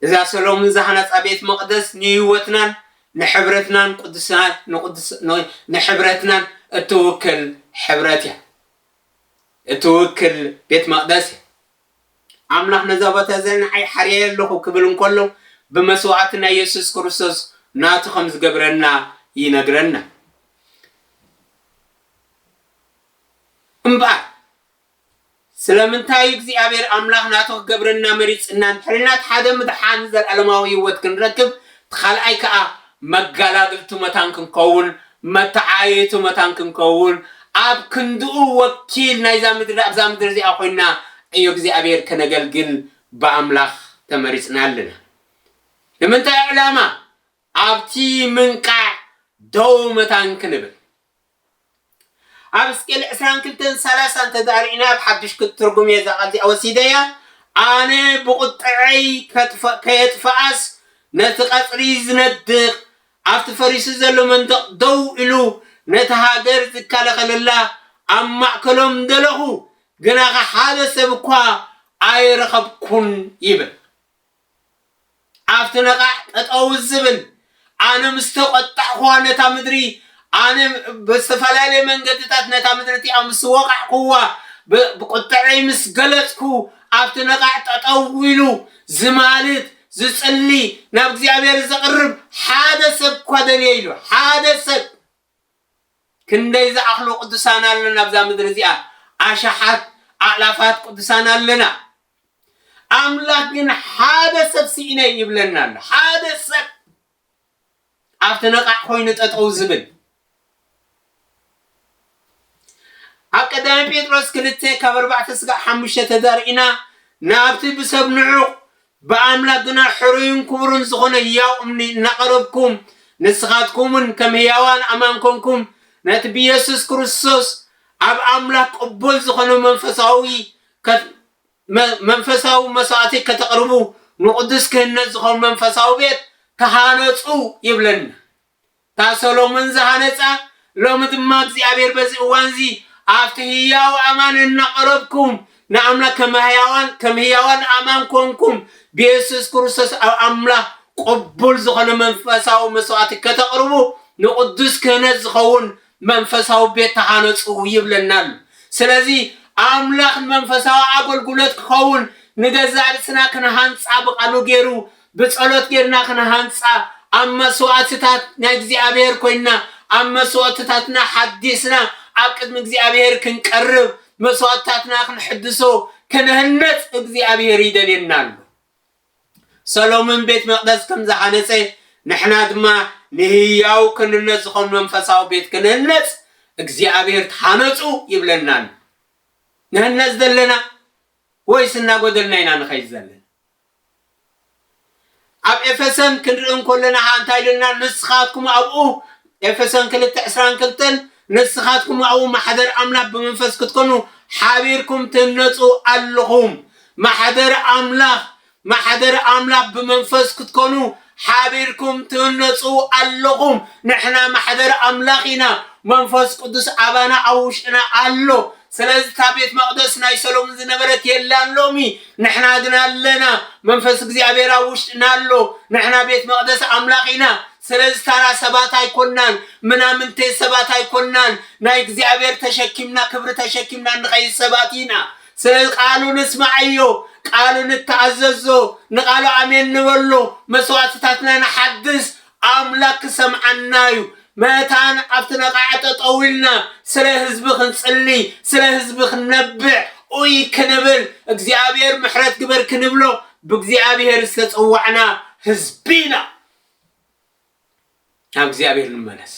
እዛ ሰሎምን ዝሃነጻ ቤት መቕደስ ንህይወትናን ንሕብረትናን ንሕብረትናን እትውክል ሕብረት እያ እትውክል ቤት መቕደስ እያ ኣምላኽ ነዛ ቦታ እዚኣ ንዓይ ሓርየ ኣለኹ ክብል እንከሎ ብመስዋዕቲ ናይ የሱስ ክርስቶስ ናቱ ከም ዝገብረና ይነግረና እምበኣር ስለምንታይ እዩ እግዚኣብሔር ኣምላኽ ናቱ ክገብረና መሪጽና እንድሕሪልና እቲ ሓደ ምድሓን ዘለዓለማዊ ሕይወት ክንረክብ እቲ ካልኣይ ከኣ መጋላግልቱ መታን ክንከውን መተዓየይቱ መታን ክንከውን ኣብ ክንድኡ ወኪል ናይዛ ምድሪ ኣብዛ ምድሪ እዚኣ ኮይንና ዕዮ እግዚኣብሔር ከነገልግል ብኣምላኽ ተመሪጽና ኣለና ንምንታይ ዕላማ ኣብቲ ምንቃዕ ደው መታን ክንብል ኣብ ሕዝቅኤል ዕስራን ክልተን ሰላሳን ተዛሪዕኒ ኣብ ሓድሽ ክትትርጉም እየ እዛ ቃል እዚኣ ወሲደያ ኣነ ብቑጥዐይ ከጥፈ- ከየጥፍኣስ ነቲ ቀጽሪ ዝነድቕ ኣብቲ ፈሪሱ ዘሎ መንደቕ ደው ኢሉ ነታ ሃገር ዝከላኸለላ ኣብ ማእከሎም ደለኹ ግናኸ ሓደ ሰብ እኳ ኣይረኸብኩን ይብል ኣብቲ ነቓዕ ጠጠው ዝብል ኣነ ምስ ተቖጣዕኹዋ ነታ ምድሪ ኣነ ብዝተፈላለየ መንገድታት ነታ ምድሪ እቲኣ ምስ ወቓዕኩዋ ብቁጥዐይ ምስ ገለጽኩ ኣብቲ ነቓዕ ጠጠው ኢሉ ዝማልድ ዝጽሊ ናብ እግዚኣብሔር ዘቕርብ ሓደ ሰብ እኳ ደልየ ኢሉ ሓደ ሰብ ክንደይ ዝኣኽሉ ቅዱሳን ኣሎና ኣብዛ ምድሪ እዚኣ ኣሽሓት ኣእላፋት ቅዱሳን ኣለና ኣምላኽ ግን ሓደ ሰብ ስኢነ ይብለና ኣሎ ሓደ ሰብ ኣብቲ ነቓዕ ኮይኑ ጠጠው ዝብል ኣብ ቀዳማይ ጴጥሮስ ክልተ ካብ ኣርባዕተ ስጋዕ ሓሙሽተ ተዛርኢና ናብቲ ብሰብ ንዑቕ ብኣምላኽ ግና ሕሩዩን ክቡሩን ዝኾነ ህያው እምኒ እናቐረብኩም፣ ንስኻትኩምውን ከም ህያዋን ኣማን ኮንኩም፣ ነቲ ብየሱስ ክርስቶስ ኣብ ኣምላኽ ቅቡል ዝኾነ መንፈሳዊ መንፈሳዊ መስዋእቲ ከተቕርቡ፣ ንቕዱስ ክህነት ዝኾን መንፈሳዊ ቤት ተሃነጹ ይብለና። እታ ሰሎሞን ዝሃነጻ፣ ሎሚ ድማ እግዚኣብሔር በዚ እዋንዚ ኣብቲ ህያው ኣማን እናቐረብኩም ንኣምላኽ ከም ህያዋን ከም ህያዋን ኣማን ኮንኩም ብየሱስ ክርስቶስ ኣብ ኣምላኽ ቅቡል ዝኾነ መንፈሳዊ መስዋእቲ ከተቕርቡ ንቕዱስ ክህነት ዝኸውን መንፈሳዊ ቤት ተሃነጹ ይብለና ኣሎ። ስለዚ ኣምላኽ ንመንፈሳዊ ኣገልግሎት ክኸውን ንገዛእ ርእስና ክንሃንጻ ብቓሉ ገይሩ ብጸሎት ጌርና ክንሃንጻ፣ ኣብ መስዋእትታት ናይ እግዚኣብሔር ኮይንና፣ ኣብ መስዋእትታትና ሓዲስና ኣብ ቅድሚ እግዚኣብሔር ክንቀርብ፣ መስዋእትታትና ክንሕድሶ፣ ክንህነጽ እግዚኣብሔር ይደልየና ኣሎ። ሰሎምን ቤት መቅደስ ከም ዝሃነጸ ንሕና ድማ ንህያው ክንነት ዝኾን መንፈሳዊ ቤት ክንህነጽ እግዚኣብሔር ተሃነጹ ይብለና ኣሎ። ንህነጽ ዘለና ወይስ እናጎደልና ኢና ንኸይድ ዘለና? ኣብ ኤፌሰን ክንርኢ እንኮለናሃ እንታይ ልልና ንስኻትኩም ኣብኡ ኤፌሶን ክልተ ዕስራን ክልተን ንስኻትኩም ኣብኡ ማሕደር ኣምላኽ ብመንፈስ ክትኮኑ ሓቢርኩም ትህነጹ ኣለኹም ማሕደር ኣምላኽ ማሕደር ኣምላኽ ብመንፈስ ክትኮኑ ሓቢርኩም ትህነጹ ኣለኹም ንሕና ማሕበር ኣምላኽ ኢና መንፈስ ቅዱስ ኣባና ኣብ ውሽጥና ኣሎ ስለዚ እታ ቤት መቅደስ ናይ ሰሎሙን ዝነበረት የላን ሎሚ ንሕና ግና ኣለና መንፈስ እግዚኣብሔር ኣብ ውሽጥና ኣሎ ንሕና ቤት መቅደስ ኣምላኽ ኢና ስለዚ ታራ ሰባት ኣይኮናን ምናምንቴ ሰባት ኣይኮናን ናይ እግዚኣብሔር ተሸኪምና ክብሪ ተሸኪምና ንኸይድ ሰባት ኢና ስለዚ ቃሉ ንስምዓዮ፣ ቃሉ ንተኣዘዞ፣ ንቃሉ ኣሜን ንበሎ፣ መስዋእትታትና ንሓድስ፣ ኣምላክ ክሰምዓና እዩ። መታን ኣብቲ ነቓዕ ጠጠው ኢልና ስለ ህዝቢ ክንጽሊ፣ ስለ ህዝቢ ክንነብዕ፣ ኡይ ክንብል፣ እግዚኣብሔር ምሕረት ግበር ክንብሎ ብእግዚኣብሔር ዝተጸዋዕና ህዝቢ ኢና። ናብ እግዚኣብሔር ንመለስ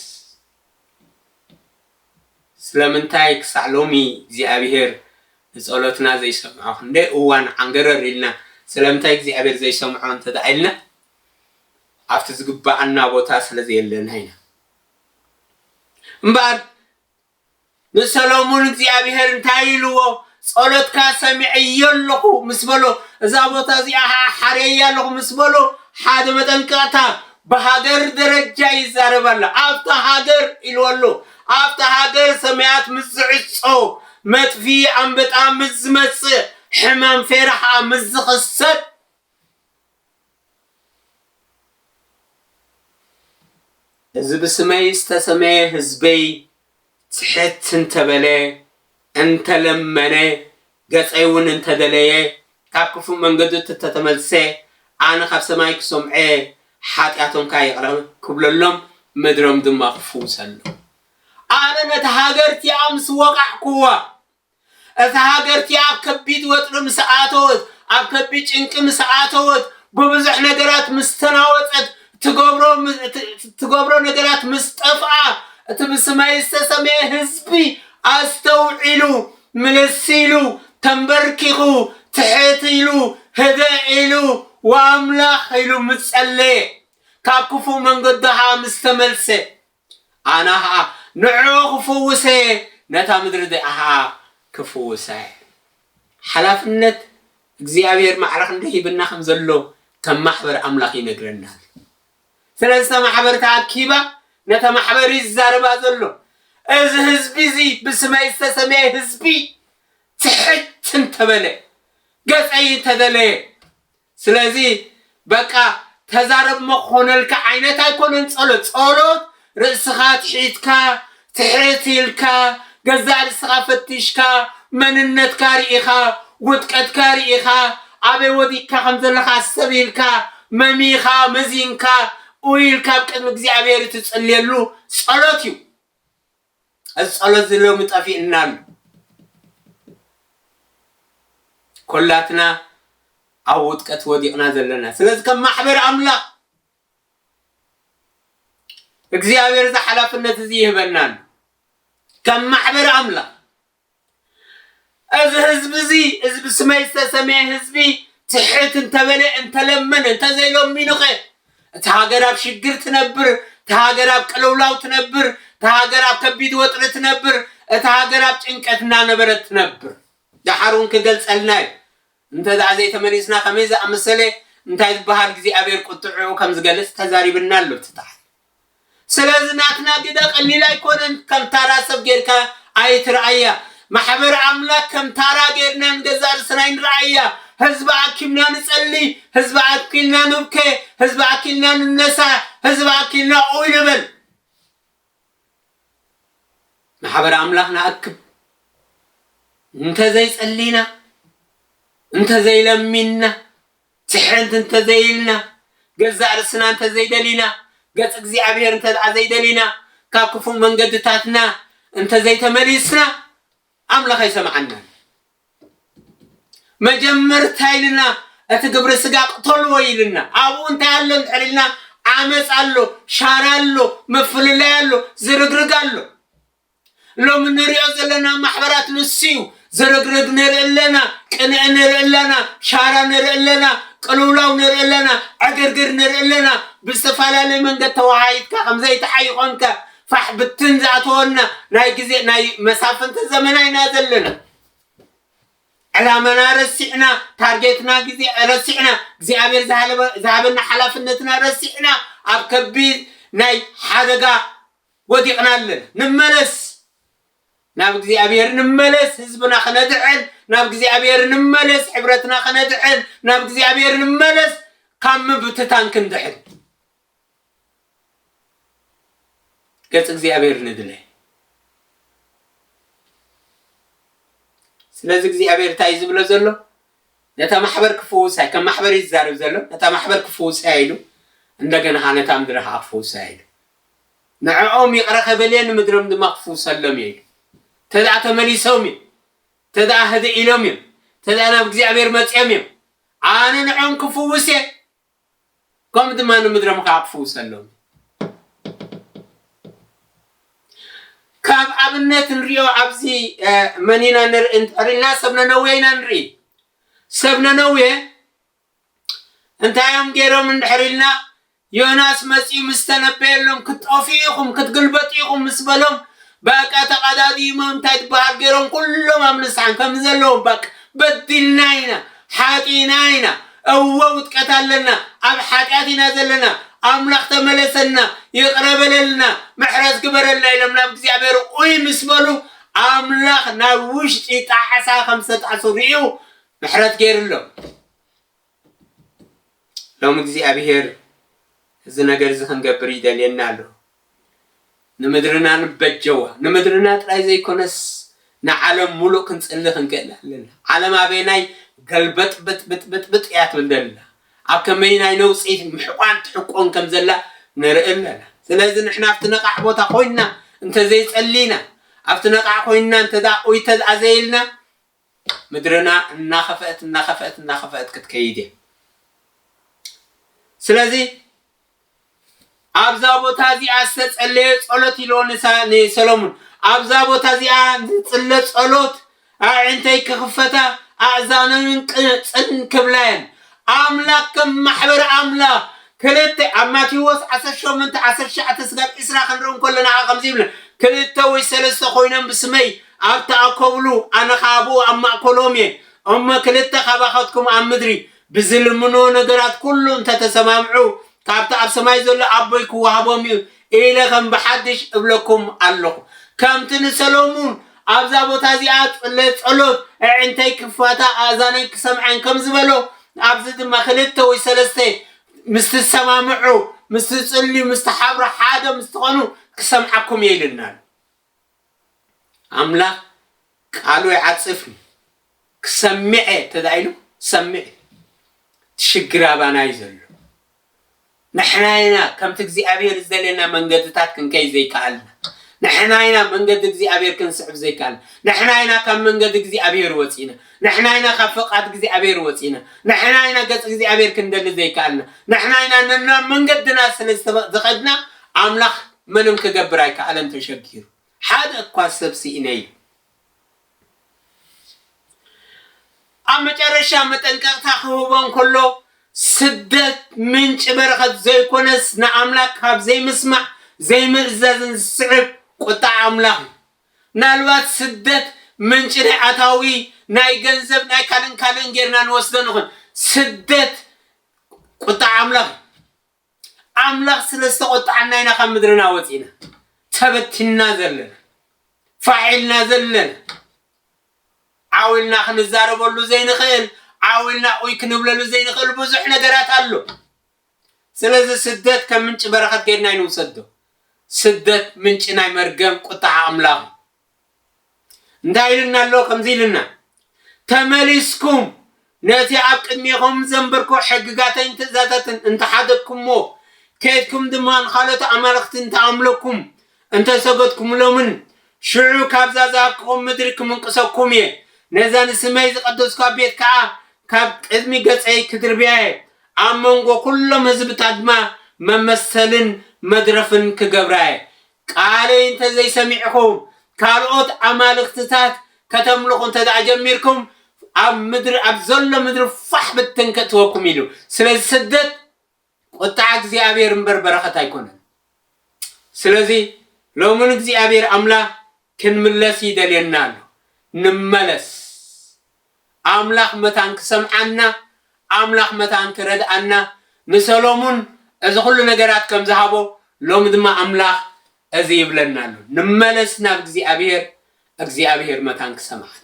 ስለምንታይ ክሳዕ ሎሚ እግዚኣብሔር ንጸሎትና ዘይሰምዖ ክንደይ እዋን ዓንገረር ኢልና ስለምንታይ እግዚኣብሔር ዘይሰምዖ እንተድኣ ኢልና ኣብቲ ዝግብኣና ቦታ ስለዘየለና ኢና እምበኣር ንሰሎሙን እግዚኣብሄር እንታይ ኢልዎ? ጸሎትካ ሰሚዐዮ ኣለኹ ምስ በሎ፣ እዛ ቦታ እዚኣ ኸኣ ሓርየያ ኣለኹ ምስ በሎ፣ ሓደ መጠንቀቕታ ብሃገር ደረጃ ይዛረብ ኣሎ። ኣብታ ሃገር ኢልዎ ኣሎ። ኣብታ ሃገር ሰማያት ምስ ዝዕጾ፣ መጥፍኢ ኣንበጣ ምስ ዝመጽእ፣ ሕማም ፌራ ኸኣ ምስ ዝኽሰት፣ እዚ ብስመይ ዝተሰመየ ህዝበይ ጽሕት እንተ በለ፣ እንተ ለመነ፣ ገጸይውን እንተ ደለየ፣ ካብ ክፉእ መንገዱ እተ ተመልሰ፣ ኣነ ኻብ ሰማይ ክሰምዖ፣ ሓጢኣቶም ከኣ ይቕረ ክብለሎም፣ ምድሮም ድማ ክፍውሰሎም። ኣነ ነታ ሃገር እቲኣ ምስ ወቓዕኩዋ፣ እታ ሃገር እቲኣ ኣብ ከቢድ ወጥሪ ምስ ኣተወት፣ ኣብ ከቢድ ጭንቂ ምስ ኣተወት፣ ብብዙሕ ነገራት ምስ ተናወጸት፣ እትገብሮ እትገብሮ ነገራት ምስ ጠፍኣ፣ እቲ ብስመይ ዝተሰምየ ህዝቢ ኣስተውዒሉ፣ ምልስ ኢሉ፣ ተምበርኪኹ፣ ትሕት ኢሉ፣ ህድእ ኢሉ፣ ወኣምላኽ ኢሉ ምስ ጸለየ፣ ካብ ክፉእ መንገዱ ኸኣ ምስ ተመልሰ፣ ኣና ኸኣ ንዕዑ ክፍውሰ እየ፣ ነታ ምድሪ እዚኣ ኸኣ ክፍውሳ እየ። ሓላፍነት እግዚኣብሄር ማዕረ ክንደይ ሂብና ከም ዘሎ ከም ማሕበር ኣምላኽ ይነግረና ኣሎ። ስለዚ እታ ማሕበር ተኣኪባ ነታ ማሕበር እዩ ዝዛረባ ዘሎ። እዚ ህዝቢ እዚ ብስመይ ዝተሰመየ ህዝቢ ትሕት እንተበለ ገጸይ እንተደለየ ስለዚ በቃ ተዛረብ እሞ ክኾነልካ ዓይነት ኣይኮነን ጸሎት። ጸሎት ርእስኻ ኣትሒትካ፣ ትሕት ኢልካ፣ ገዛእ ርእስኻ ፈቲሽካ፣ መንነትካ ርኢኻ፣ ውድቀትካ ርኢኻ፣ ኣበይ ወዲቅካ ከም ዘለኻ ኣስተብሂልካ፣ መሚኻ፣ መዚንካ፣ ኡይ ኢልካ ኣብ ቅድሚ እግዚኣብሔር እትጽልየሉ ጸሎት እዩ። እዚ ጸሎት እዚ ሎሚ ጠፊኡና ኣሎ። ኮላትና ኣብ ውድቀት ወዲቕና ዘለና ስለዚ ከም ማሕበር ኣምላኽ እግዚኣብሔር እዚ ሓላፍነት እዚ ይህበና ኣሎ ከም ማሕበር ኣምላኽ እዚ ህዝቢ እዚ እዚ ብስመይ ዝተሰምየ ህዝቢ ትሕት እንተበለ እንተለመነ እንተዘይለሚኑኸ እቲ ሃገር ኣብ ሽግር ትነብር እቲ ሃገር ኣብ ቅልውላው ትነብር እቲ ሃገር ኣብ ከቢድ ወጥሪ ትነብር እቲ ሃገር ኣብ ጭንቀት እናነበረት ትነብር ደሓር እውን ክገልጸልና እዩ እንተ ደኣ ዘይተመሊስና ከመይ ዝኣመሰለ እንታይ ዝበሃል እግዚኣብሔር ቁጥዕኡ ከም ዝገልጽ ተዛሪብና ኣሎ እቲ ታሕቲ ስለዚ ናትና ግደ ቀሊል ኣይኮነን ከም ታራ ሰብ ጌርካ ኣይትርኣያ ማሕበር ኣምላክ ከም ታራ ጌርና ንገዛእ ርእስና ኣይንርኣያ ህዝቢ ኣኪብና ንጸሊ ህዝቢ ኣኪልና ንብከ ህዝቢ ኣኪልና ንነሳ ህዝቢ ኣኪልና ኡይ ንበል ማሕበር ኣምላክ ንኣክብ እንተዘይጸሊና እንተዘይለሚንና ትሕርምቲ እንተ ዘይኢልና፣ ገዛእ ርእስና እንተ ዘይደሊና፣ ገጽ እግዚኣብሔር እንተ ደኣ ዘይደሊና፣ ካብ ክፉእ መንገድታትና እንተ ዘይተመሊስና፣ ኣምላኽ ኣይሰምዓናን። መጀመርታ ኢልና እቲ ግብሪ ስጋ ቅተልዎ ኢልና፣ ኣብኡ እንታይ ኣሎ እንድሕር ኢልና፣ ዓመጽ ኣሎ፣ ሻራ ኣሎ፣ ምፍልላይ ኣሎ፣ ዝርግርግ ኣሎ። ሎሚ ንሪኦ ዘለና ማሕበራት ንሱዩ፣ ዝርግርግ ንርኢ ኣለና፣ ቅንኢ ንርኢ ኣለና፣ ሻራ ንርኢ ኣለና፣ ቅልውላው ንርኢ ኣለና፣ ዕግርግር ንርኢ ኣለና፣ ብዝተፈላለየ መንገድ ተወሃሂድካ ከምዘይተሓይኾንከ ፋሕ ብትን ዝኣተወልና ናይ ግዜ ናይ መሳፍንቲ ዘመና ኢና ዘለና። ዕላማና ረሲዕና፣ ታርጌትና ግዜ ረሲዕና፣ እግዚኣብሔር ዝሃበና ሓላፍነትና ረሲዕና ኣብ ከቢድ ናይ ሓደጋ ወዲቅና ኣለና ንመለስ ናብ እግዚኣብሔር ንመለስ ህዝብና ክነድሕን ናብ እግዚኣብሔር ንመለስ ሕብረትና ክነድሕን ናብ እግዚኣብሔር ንመለስ ካብ ምብትታን ክንድሕን ገጽ እግዚኣብሔር ንድለ ስለዚ እግዚኣብሔር እንታይ እዩ ዝብሎ ዘሎ ነታ ማሕበር ክፍውሳ እዩ ከም ማሕበር እዩ ዝዛረብ ዘሎ ነታ ማሕበር ክፍውሳ ኢሉ እንደገና ከዓ ነታ ምድሪ ከዓ ክፍውሳ ኢሉ ንዐኦም ይቕረ ከበል እየ ንምድሮም ድማ ክፍውሰሎም እየ ኢሉ። እንተደኣ ተመሊሶም እዮም፣ እንተደኣ ህድእ ኢሎም እዮም፣ እንተደኣ ናብ እግዚኣብሄር መጺኦም እዮም፣ ኣነ ንዐኦም ክፍውስ እየ፣ ከምኡ ድማ ንምድሮም ከኣ ክፍውሰሎም እየ። ካብ ኣብነት ንሪኦ ኣብዚ መን ኢና ንርኢ እንተሪልና ሰብ ነነዌ ኢና ንርኢ ሰብ ነነዌ እንታይ እዮም ጌሮም እንድሕር ኢልና ዮናስ መጺኡ ምስ ተነበየሎም ክትጠፍኡ ኢኹም ክትግልበጡ ኢኹም ምስ በሎም በቃ ተቐዳዲሞም እንታይ ትበሃል ጌሮም ኩሎም ኣብ ንስሓን ከም ዘለዎም በቃ በዲልና ኢና ሓጢና ኢና እወ ውጥቀት ኣለና ኣብ ሓጢኣት ኢና ዘለና ኣምላኽ ተመለሰና ይቕረ በለልና ምሕረት ግበረልና ኢሎም ናብ እግዚኣብሔር ኡይ ምስ በሉ ኣምላኽ ናብ ውሽጢ ጣዕሳ ከም ዝተጣዕሱ ርእዩ ምሕረት ገይርሎም። ሎሚ እግዚኣብሄር እዚ ነገር እዚ ክንገብር ይደልየና ኣሎ። ንምድርና ንበጀዋ። ንምድርና ጥራይ ዘይኮነስ ንዓለም ሙሉእ ክንጽሊ ክንክእል ኣለና። ዓለም ኣበየናይ ገልበጥበጥብጥብጥ እያ ትብል ዘላ፣ ኣብ ከመይናይ ነውጺ ምሕቋን ትሕቆን ከም ዘላ ንርኢ ኣለና። ስለዚ ንሕና ኣብቲ ነቓዕ ቦታ ኮይንና እንተዘይጸሊና፣ ኣብቲ ነቓዕ ኮይንና እንተደኣ ቁይተት ኣዘይልና፣ ምድርና እናኸፈእት እናኸፈእት እናኸፈእት ክትከይድ እያ። ስለዚ ኣብዛ ቦታ እዚኣ ዝተጸለየ ጸሎት ኢሎ ንሰሎሙን ኣብዛ ቦታ እዚኣ ዝጽለ ጸሎት ኣዕንተይ ክኽፈታ ኣእዛነንን ቅጽን ክብላየን ኣምላክ ከም ማሕበር ኣምላክ ክልተ ኣብ ማቴዎስ ዓሰርተ ሸሞንተ ዓሰርተ ትሽዓተ ስጋብ ዕስራ ክንርኢ እንከሎና ከኣ ከምዚ ይብለ ክልተ ወይ ሰለስተ ኮይኖም ብስመይ ኣብ ተኣከብሉ ኣነ ከኣ ኣብኡ ኣብ ማእከሎም እየ እሞ ክልተ ካባካትኩም ኣብ ምድሪ ብዝልምንዎ ነገራት ኩሉ እንተ ተሰማምዑ ካብቲ ኣብ ሰማይ ዘሎ ኣቦይ ክወሃቦም እዩ ኢለ ኸም ብሓድሽ እብለኩም ኣሎኹ። ከምቲ ንሰሎሙን ኣብዛ ቦታ እዚኣ ጽለ ጸሎት፣ ኣዒንተይ ክፋታ ኣእዛነይ ክሰምዐን ከም ዝበሎ፣ ኣብዚ ድማ ክልተ ወይ ሰለስተ ምስ ትሰማምዑ፣ ምስ ትጽልዩ፣ ምስ ትሓብሩ፣ ሓደ ምስ ትኾኑ ክሰምዓኩም እየ ኢሉና ኣሎ። ኣምላኽ ቃሉ ይዓጽፍ እዩ ክሰምዕ እየ እንተድኣ ኢሉ ክሰምዕ እዩ እቲ ሽግር ኣባና እዩ ዘሎ ንሕና ኢና ከምቲ እግዚኣብሔር ዝደልየና መንገድታት ክንከይ ዘይከኣልና ንሕና ኢና መንገዲ እግዚኣብሔር ክንስዕብ ዘይከኣልና ንሕና ኢና ካብ መንገዲ እግዚኣብሔር ወፂና ንሕና ኢና ካብ ፍቓድ እግዚኣብሔር ወፂና ንሕና ኢና ገፅ እግዚኣብሔር ክንደሊ ዘይከኣልና ንሕና ኢና ነናብ መንገድና ስለ ዝኸድና ኣምላኽ ምንም ክገብር ኣይከኣለን ተሸጊሩ ሓደ እኳ ሰብ ስኢነ ኢሉ። ኣብ መጨረሻ መጠንቀቕታ ክህቦ እንከሎ ስደት ምንጪ በረኸት ዘይኮነስ ንኣምላኽ ካብ ዘይምስማዕ ዘይምእዛዝን ዝስዕብ ቁጥዓ ኣምላኽ እዩ። ምናልባት ስደት ምንጪ ናይ ኣታዊ ናይ ገንዘብ ናይ ካልእን ካልእን ጌርና ንወስዶ ንኹን ስደት ቁጥዓ ኣምላኽ እዩ። ኣምላኽ ስለ ዝተቖጥዓና ኢና ካብ ምድርና ወጺእና ተበቲንና ዘለና፣ ፋሕ ኢልና ዘለና። ዓው ኢልና ክንዛረበሉ ዘይንኽእል፣ ዓው ኢልና ኡይ ክንብለሉ ዘይንኽእል ብዙሕ ነገራት ኣሎ። ስለዚ ስደት ከም ምንጪ በረኸት ጌርና ኣይንውሰዶ። ስደት ምንጪ ናይ መርገም፣ ቁጥዓ፣ ኣምላኽ እዩ። እንታይ ኢሉና ኣሎ ከምዚ ኢሉና ተመሊስኩም ነቲ ኣብ ቅድሜኹም ዘንበርኩ ሕግጋተይን ትእዛታትን እንተሓደግኩምዎ ኬድኩም ድማ ንኻልኦት ኣማልኽቲ እንተኣምለኩም እንተሰገድኩምሎምን ሽዑ ካብዛ ዝሃብኩኹም ምድሪ ክምንቅሰኩም እየ ነዛ ንስመይ ዝቐደስኳ ቤት ከኣ ካብ ቅድሚ ገጸይ ክድርብያ እየ ኣብ መንጎ ኩሎም ህዝብታት ድማ መመሰልን መድረፍን ክገብራ እየ ቃለይ እንተ ዘይሰሚዕኹም፣ ካልኦት ኣማልኽትታት ከተምልኹ እንተ ደኣ ጀሚርኩም፣ ኣብ ምድሪ ኣብ ዘሎ ምድሪ ፋሕ ብትን ከእትወኩም ኢሉ። ስለዚ ስደት ቁጥዓ እግዚኣብሔር እምበር በረኸት ኣይኮነን። ስለዚ ሎሚ ንእግዚኣብሔር ኣምላኽ ክንምለስ ይደልየና ኣሎ። ንመለስ። ኣምላኽ መታን ክሰምዓና ኣምላኽ መታን ክረድኣና ንሰሎሙን እዚ ኩሉ ነገራት ከም ዝሃቦ ሎሚ ድማ ኣምላኽ እዚ ይብለና ኣሎ ንመለስ ናብ እግዚኣብሄር እግዚኣብሄር መታን ክሰምዓና።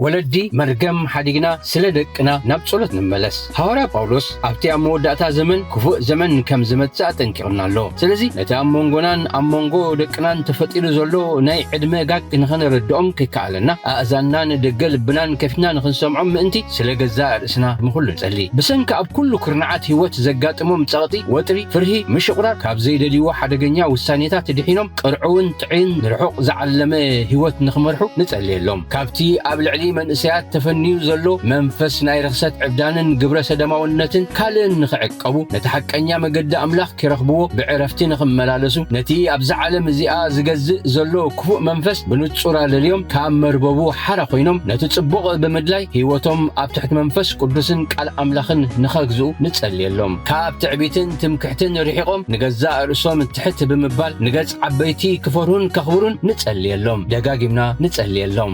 ወለዲ መርገም ሓዲግና ስለ ደቅና ናብ ጸሎት ንመለስ። ሃዋርያ ጳውሎስ ኣብቲ ኣብ መወዳእታ ዘመን ክፉእ ዘመን ከም ዝመጽእ ኣጠንቂቑና ኣሎ። ስለዚ ነቲ ኣብ መንጎናን ኣብ መንጎ ደቅናን ተፈጢሩ ዘሎ ናይ ዕድመ ጋግ ንኸነረድኦም ከይከኣለና ኣእዛንናን ደገ ልብናን ከፊትና ንኽንሰምዖም ምእንቲ ስለ ገዛእ ርእስና ንኹሉ ንጸሊ። ብሰንኪ ኣብ ኩሉ ኩርናዓት ህይወት ዘጋጥሞም ጸቕጢ፣ ወጥሪ፣ ፍርሂ፣ ምሽቑራር፣ ካብ ዘይደልይዎ ሓደገኛ ውሳኔታት ድሒኖም ቅርዑውን ጥዕይን ንርሑቕ ዝዓለመ ህይወት ንኽመርሑ ንጸልየሎም። ካብቲ ኣብ ልዕሊ መንእሰያት ተፈንዩ ዘሎ መንፈስ ናይ ርኽሰት ዕብዳንን ግብረ ሰደማውነትን ካልእን ንኽዕቀቡ ነቲ ሓቀኛ መገዲ ኣምላኽ ኪረኽብዎ ብዕረፍቲ ንኽመላለሱ ነቲ ኣብዛ ዓለም እዚኣ ዚገዝእ ዘሎ ክፉእ መንፈስ ብንጹር ኣለልዮም ካብ መርበቡ ሓራ ዀይኖም ነቲ ጽቡቕ ብምድላይ ህይወቶም ኣብ ትሕቲ መንፈስ ቅዱስን ቃል ኣምላኽን ንኸግዝኡ ንጸልየሎም ካብ ትዕቢትን ትምክሕትን ርሒቖም ንገዛእ ርእሶም ትሕት ብምባል ንገጽ ዓበይቲ ክፈርሁን ከኽብሩን ንጸልየሎም። ደጋጊምና ንጸልየሎም።